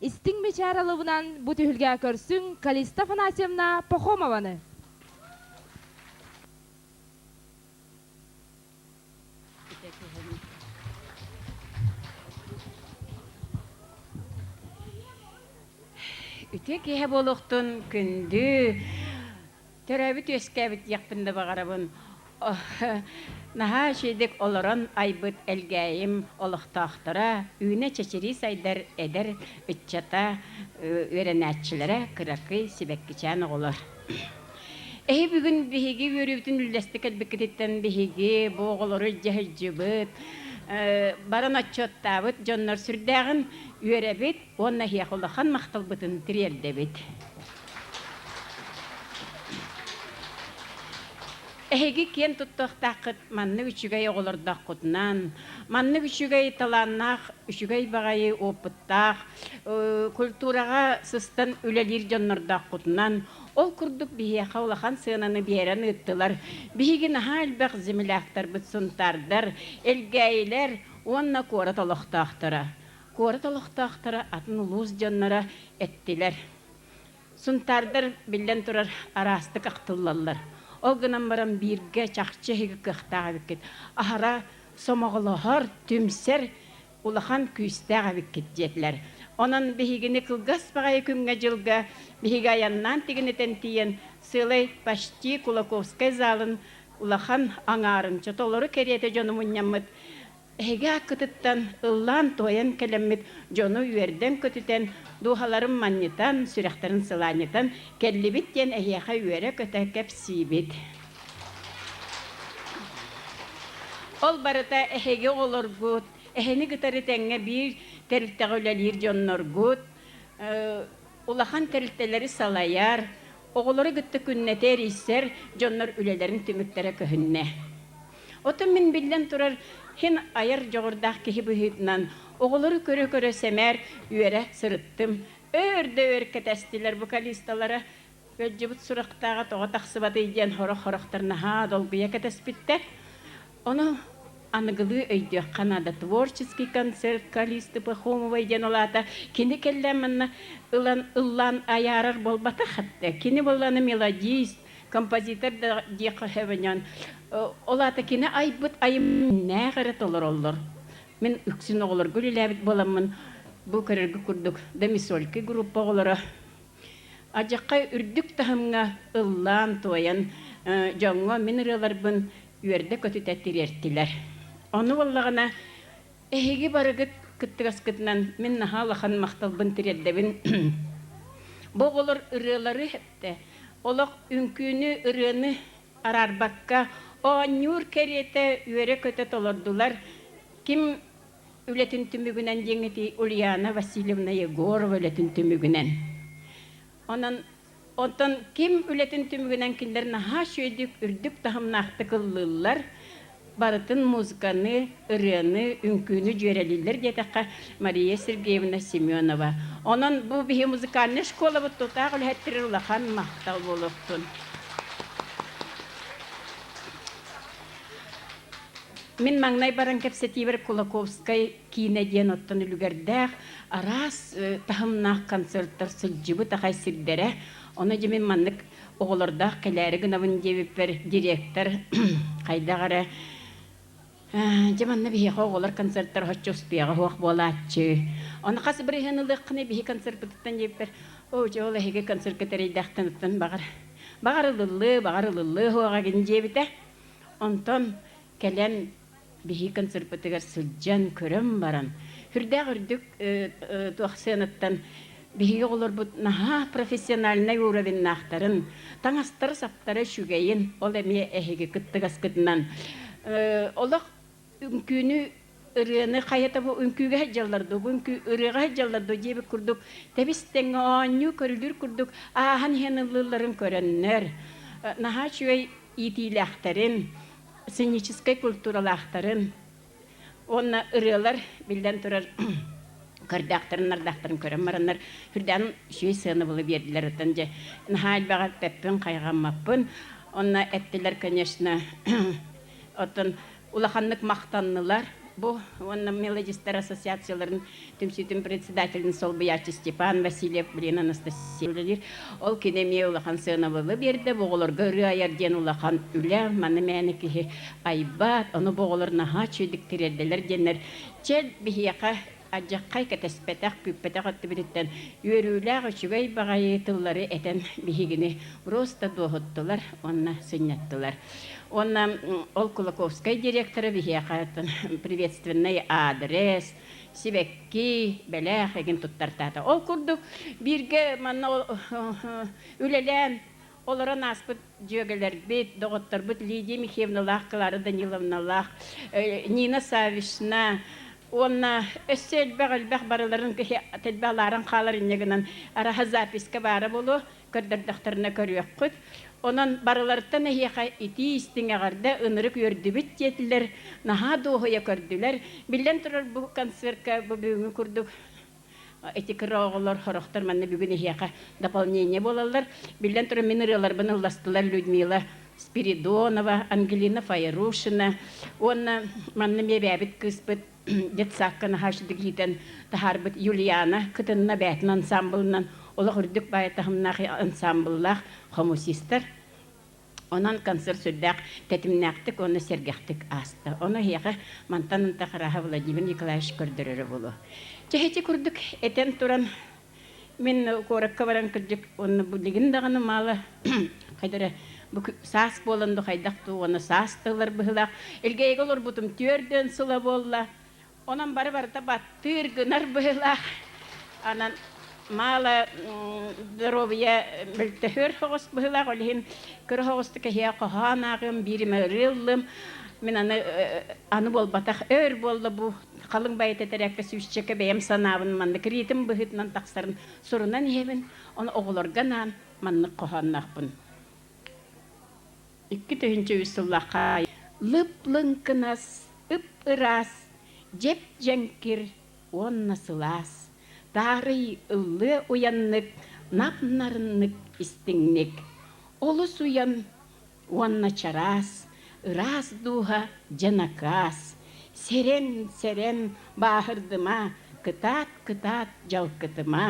Истиҥ бэчааралыбынан бу түһүлгэ көрсүҥ Калиста Афанасьевна Пахомованы. Үтүө киһи буолуохтун күндү Төрөөбүт-үөскээбит диэхпин да баҕарабын. Наһаа үчэйдик олорон айбыт Элгээйим олохтоохторо, үүнэ-чэчирии сайдар эдэр ыччата, үөрэнээччилэрэ кыракый сибэккичээн оҕолор. Эһи бүгүн биһиги үөрүүбүтүн үллэстик кэлбиккититтэн биһиги бу оҕолору дьаһайдьыбыт, баран отчуоттаабыт дьоннор сүрдээҕин үөрэбит, уонна эһиэхэ улахан махталбытын тириэрдэбит. Эһиги киэн туттуохтааххыт маннык үчүгэй оҕолордооххутунан, маннык үчүгэй талааннаах, үчүгэй баҕайы опыттаах, культураҕа сыстан үлэлиир дьоннордооххутунан, ол курдук биһиэхэ улахан сыананы биэрэн ыыттылар биһиги наһаа элбэх земляктарбыт сунтаардар, элгээйилэр уонна куорат олохтоохторо. Куорат олохтоохторо атын улуус дьонноро эттилэр. Сунтаардар, биллэн турар, араастык ахтыллаллар. Ол гынан баран бииргэ чахчы эһиги кыахтаах эбиккит, аһара сомоҕолоһор, түмсэр улахан күүстээх эбиккит диэтилэр. Онон биһигини кылгас баҕайы күҥҥэ-дьылга биһиги айаннаан тигинэтэн тиийэн сыалай почти Кулаковскай залын улахан аҥаарын, толору кэриэтэ дьону мунньаммыт Эһиги ааккытыттан ыллаан-туойан кэлэммит дьону үөрдэн-көтүтэн, дууһаларын манньытан, сүрэхтэрин сылаанньытан кэллибит диэн эһиэхэ үөрэ-көтө кэпсиибит. Ол барыта эһиги оҕолоргут, эһини кытары тэҥҥэ биир тэрилтэҕэ үлэлиир дьонноргут, улахан тэрилтэлэри салайар, оҕолору кытта күннэтэ эрийсэр дьоннор үлэлэрин түмүктэрэ көһүннэ. Оттон мин биллэн турар, син айар дьоҕурдаах киһи быһыытынан оҕолору көрө-көрө сэмээр үөрэ сырыттым. Өөр да өөр кэтэстилэр вокалисталара Кыадьыбыт сурахтааҕа тоҕо тахсыбатый диэн сорох-сорохтор наһаа долгуйа кэтэспиттэр. Ону аныгылыы өйдүөххэ наада. Творческий концерт Калисты Пахомовой диэн ол аата кини кэллэ манна ылан ыллаан айаарар буолбатах. Кини буоллаҕына мелодист, композитор да диэххэ сөп ойоон ол аата кини айбыт айымньыннаах эрэ толороллор мин үксүн оҕолорго үлэлээбит буоламмын бу көрөргө курдук домисольки группа оҕолоро адьахха үрдүк таһымҥа ыллаан туойан дьоҥҥо мин ырыаларбын үөрдэ көтүтэ тириэртилэр ону буоллаҕына Эһиги барыгыт кыттыгаскытынан мин наһаа улахан махталбын тириэрдэбин. Бу оҕолор ырыалары эттэ. Олох үҥкүүнү, ырыаны араарбакка оонньуур кэриэтэ үөрэ-көтө толордулар. Ким үлэтин түмүгүнэн диэҥ этий, Ульяна Васильевна Егорова үлэтин түмүгүнэн. Онон Оттон ким үлэтин түмүгүнэн кинилэр наһаа үчүгэйдик, үрдүк таһымнаахтык ыллыыллар, барытын музыканы, ырыаны, үҥкүүнү дьүөрэлииллэр диэтэххэ, Мария Сергеевна Семенова. Онон бу биһи музыкальнай школабыт тутаах үлэһиттэрин улахан махтал буолуохтун. Мин маҥнай баран кэпсэтиибэр Кулаковскай Киинэ диэн оттон үлүгэрдээх, араас таһымнаах концертар сылдьыбыт аҕай сирдэрэ. Ону дьэ мин маннык оҕолордоох кэлээри гынабын диэбиппэр директор хайдах эрэ дьэ манна биһиэхэ оҕолор концертара оччо успуйаҕа суох буолааччы. Ону хас бырыһыан ылыаххыный биһи концерпытыттан диэппэр оо дьэ ол эһиги концерка тэрэйдэхтэн оттон баҕар баҕар ылыллыа баҕар ылыллыа суох эгин диэбитэ. Онтон кэлэн Биһиги концерпытыгар сылдьан, көрөн баран, сүрдээх үрдүк туох сыанаттан биһиги оҕолорбут наһаа профессиональнай уровеннаахтарын, таҥастара-саптара үчүгэйин, ол эмиэ эһиги кыттыгаскытынан олох үҥкүүнү ырыаны хайата бу үҥкүүгэ сылдьаллар дуу, бу үҥкүү ырыаҕа сылдьаллар дуу диэбит курдук тэбис-тэҥҥэ оонньуу көрүлүүр курдук ааһан иһэн ыллыылларын көрөннөр наһаа үчүгэй иитиилээхтэрин, сценическай культуралаахтарын уонна ырыалар, биллэн турар, көрдөөхтөрүн-нардахтарын көрөн бараннар, үрдээн үчүгэй сыанабылы биэрдилэр. Оттон дьэ, наһаа элбэҕи эппиппин-хайҕаммаппын. Онно эттилэр, конечно, оттон улаханнык махтаннылар. Бу уонна мелодистар ассоциацияларын Түмсүүтүн председателин солбуйааччы Степан Васильев Лена Анастасия үлэлиир. Ол кини эмиэ улахан сыанабылы биэрдэ, бу оҕолорго ырыа айар диэн улахан үлэ, маны мээнэ киһи айбат, ону бу оҕолор наһаа үчүгэйдик тириэрдэлэр диэннэр, чэ, биһиэхэ адьаххай кэтэспэтэх, күүппэтэх өттүбүтүттэн үөрүүлээх үчүгэй баҕайы тыллары этэн биһигини просто дуоһуттулар уонна сынньаттылар. Уонна ол Кулаковскай директора биһиэхэ приветственный адрес, сибэкки, бэлэх игин туттартаата. Ол курдук бииргэ манна үлэлээн олорон ааспыт дьүөгэлэрбит, доҕотторбут Лидия Михайловналаах, Клара Даниловналаах, Нина Савишна уонна өссө элбэх-элбэх барыларын киһи тэлбэ алааран хаалар инньэ гынан араһа записка баара буолуо, Көрдөрдөхтөрүнэ көрүөххүт. Онон барыларыттан эһиэхэ итии-истиҥ эҕэрдэ ынырык үөрдүбүт диэтилэр, наһаа дуоһуйа көрдүлэр. Биллэн турар, бу концертка бу бүгүҥҥү курдук эти кыра оҕолор, сорохтор манна бүгүн эһиэхэ дополнение буолаллар. Биллэн турар, мин ырыаларбын ылластылар Людмила Спиридонова, Ангелина Фаерушина уонна манна эмиэ эбээбит кыыспыт детсадка наһаа үчүгэй иитэн таһаарбыт Юлиана кытынна бэйэтин ансаамбылынан олох үрдүк баай таһымнаах ансаамбыллаах хомусистар. Онон концерт сүрдээх тэтимнээхтик уонна сэргэхтик ааста. Ону эһиэхэ мантан ынта харааһа Владимир Николаевич көрдөрөрө буолуо. Чэһичи курдук этэн туран Мин куоракка баран кырдьык уонна бу дигин даҕаны маала хайда эрэ бу саас буолан да хайдах дуу уонна саас да ылар быһыылаах илгээйигэ олорбутум түөрдүөн сыла буолла онон бары барыта баттыыр гынар быһыылаах анан маала доруобуйа мөлтөһөр хоҕус быһыылаах ол иһин кыра хоҕустук эһиэ хоһоон ааҕыам бииримэ ырыыллым мин аны аны буолбатах өр буолла бу халыҥ байыта этэрээккэ сүүсчэкэ бэйэм санаабын маннык риитим быһыытынан тахсарын сурунан иһэбин, ону оҕолорго анаан маннык хоһоонноохпун. Икки тыһыынча үс сыллаахха лып-лыҥкынас, ып-ыраас, дьэп-дьэҥкир уонна сылаас, таарый ыллыы уйаннык, нам нарыннык истиҥник, олус уйан уонна чараас, ыраас дууһа дьэ накаас, сэрэн, сэрэн бааһырдыма, кытаат, кытаат дьалкытыма.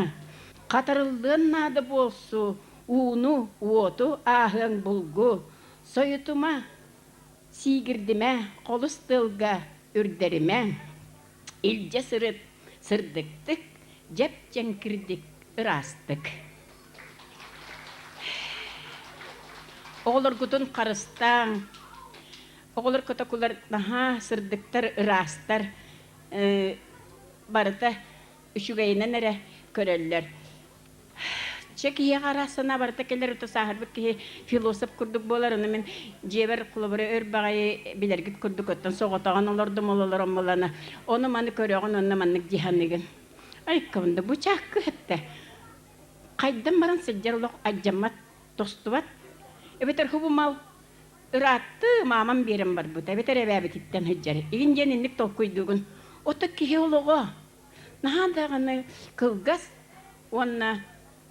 Хатарыллыан наада буолсу, ууну, уоту ааһыаҥ булгу, сойутума, сиигирдимэ, холус тыалга үрдэримэ. Илдьэ сырыт, сырдыктык, дьэп-дьэҥкирдик ыраастык. Оҕолоргутун харыстааҥ. Оҕолор котокулар наһаа сырдыктар, ыраастар. Э, барыта үчүгэйинэн эрэ көрөллөр. Чэ киһиэхэ араас санаа барыта кэлэр ото сааһырбыт киһи философ курдук буолар аны мин дьиэбэр кулабары өр баҕайы билэргит курдук оттон соҕотоҕун олордум ололор оммолана ону маны көрөҕүн онно маннык дии саныыгын айкабында бычаакка эттэ Хайдам баран сылдьар олох алдьаммат, тостубат. Эбэтэр хубумал, ырааттыы маамам биэрэн барбыта эбэтэр эбээбититтэн сылдьар игин диэн инник толкуйдуубун. Ото киһи олоҕо наһаа даҕаны кылгас уонна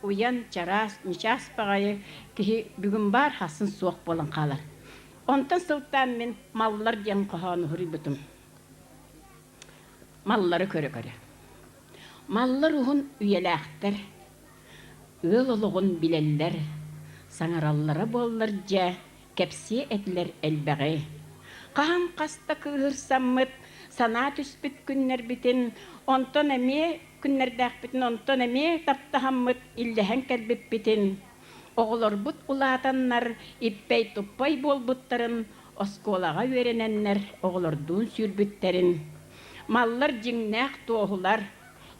уйан чараас ньычаас баҕайы киһи бүгүн баар хасын суох буолан хаалар. Онтон сылтаан мин маллар диэн хоһоону суруйбутум. маллары көрө-көрө. Маллар уһун үйэлээхтэр, ыал олоҕун билэллэр, саҥараллара буоллар дьэ, кэпсиэ этилэр элбэҕи. Хаһан хас да кыыһырсаммыт, санаа түспүт күннэрбитин, онтон эмиэ күннэрдээхпитин, онтон эмиэ таптаһаммыт, иллэһэн кэлбиппитин, оҕолорбут улаатаннар, иппэй-туппай буолбуттарын Оскуолаҕа үөрэнэннэр оҕолордуун сүүрбүттэрин, маллар дьиҥнээх туоһулар,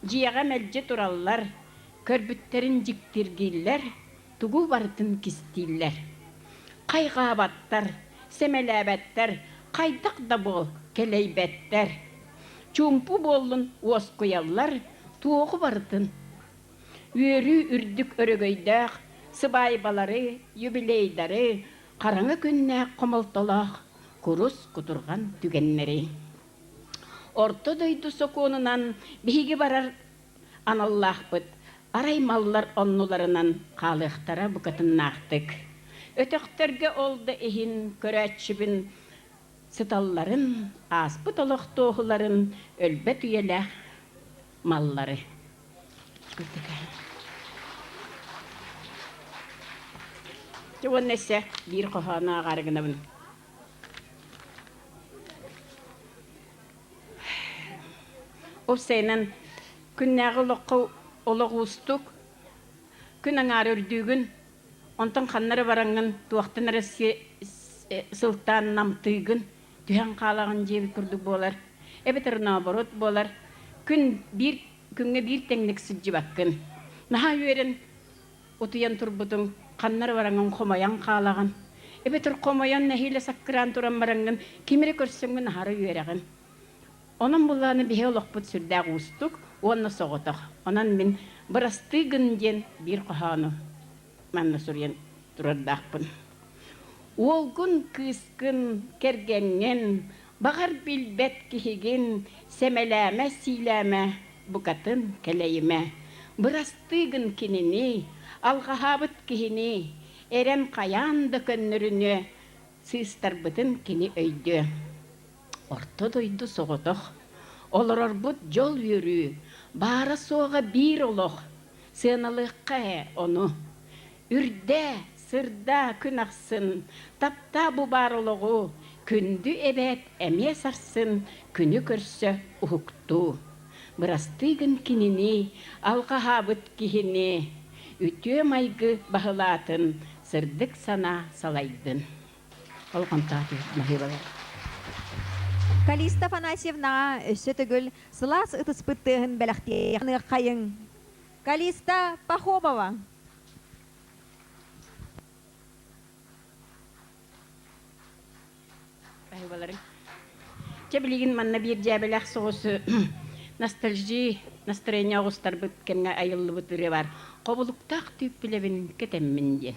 дьиэҕэ мэлдьи тураллар, көрбүттэрин дьиктиргииллэр, тугу барытын кистииллэр. Хайҕаабаттар, сэмэлээбэттэр, хайдах да буол, кэлэйбэттэр. Чуумпу буоллун уоскуйаллар, туоҕу барытын. Үөрүү үрдүк өрөгөйдөөх сыбаайбалары, юбилейдары, Хараҥа күннээх хомолтолоох курус кутурҕан түгэннэри Орто дойду сокуонунан биһиги барар аналлаахпыт арай маллар оннуларынан хаалыахтара букатыннаахтык, өтөхтөргө ол да иһин көрөөччүбүн сыталларын, ааспыт олох туоһуларын өлбөт үйэлээх маллары Ты вон Нессе биир хоһоону ааҕаары гынабын. Ол сайынан күннээҕи олоххо олох уустук. Күн аҥаара үрдүүгүн, онтон ханна эрэ бараҥҥын, туохтан эрэ сылтаан намтыыгын, Түһэн хаалаҕын диэбит курдук буолар, эбэтэр нооборот буолар, күн биир күҥҥэ биир тэҥник сылдьыбаккын. Наһаа үөрэн утуйан турбутуҥ, ханнар бараҥын хомойон хаалаҕын, эбэтэр хомойон нэһиилэ саккыраан туран бараҥҥын ким эрэ көрсөҥҥүн аһары үөрэҕин. Онон буллааны биһи олохпут сүрдээх уустук уонна соҕотох. Онон мин бырастыы гын диэн биир хоһоону. манна суруйан турардаахпын. Уолгун, кыыскын, кэргэҥҥин, баҕар билбэт киһигин сэмэлээмэ-сиилээмэ, букатын кэлэйимэ. Бырастыы гын кинини, алҕаһаабыт киһини, эрэн хайаан да көннөрүнүө, сыыстарбытын кини өйдүө. Орто дойду соҕотох олорорбут дьол үөрүү баара-суоҕа биир олох. Сыаналыахха ээ ону. Үрдээ, сырдаа күн ахсын, таптаа бу баар олоҕу, күндү эбээт эмиэ сарсын күнү көрсө уһуктуу. Бырастыы гын кинини, алҕаһаабыт киһини, үтүө майгы баһылаатын сырдык санаа салайдын. Ол хантаатыйа баһыыбалар. Калиста Афанасьевнаҕа өссө төгүл сылаас ытыспыт тыаһын бэлэхтиэххиниэххайыҥ. Калиста Пахомова. Баһыыбаларым. Чэ билигин манна биир дьээбэлээх соҕус ностальжи настроение оҕустарбыт кэмҥэ айыллыбыт ырыа баар. Хобулуктаах түүп билэбин кэтэммин диэн.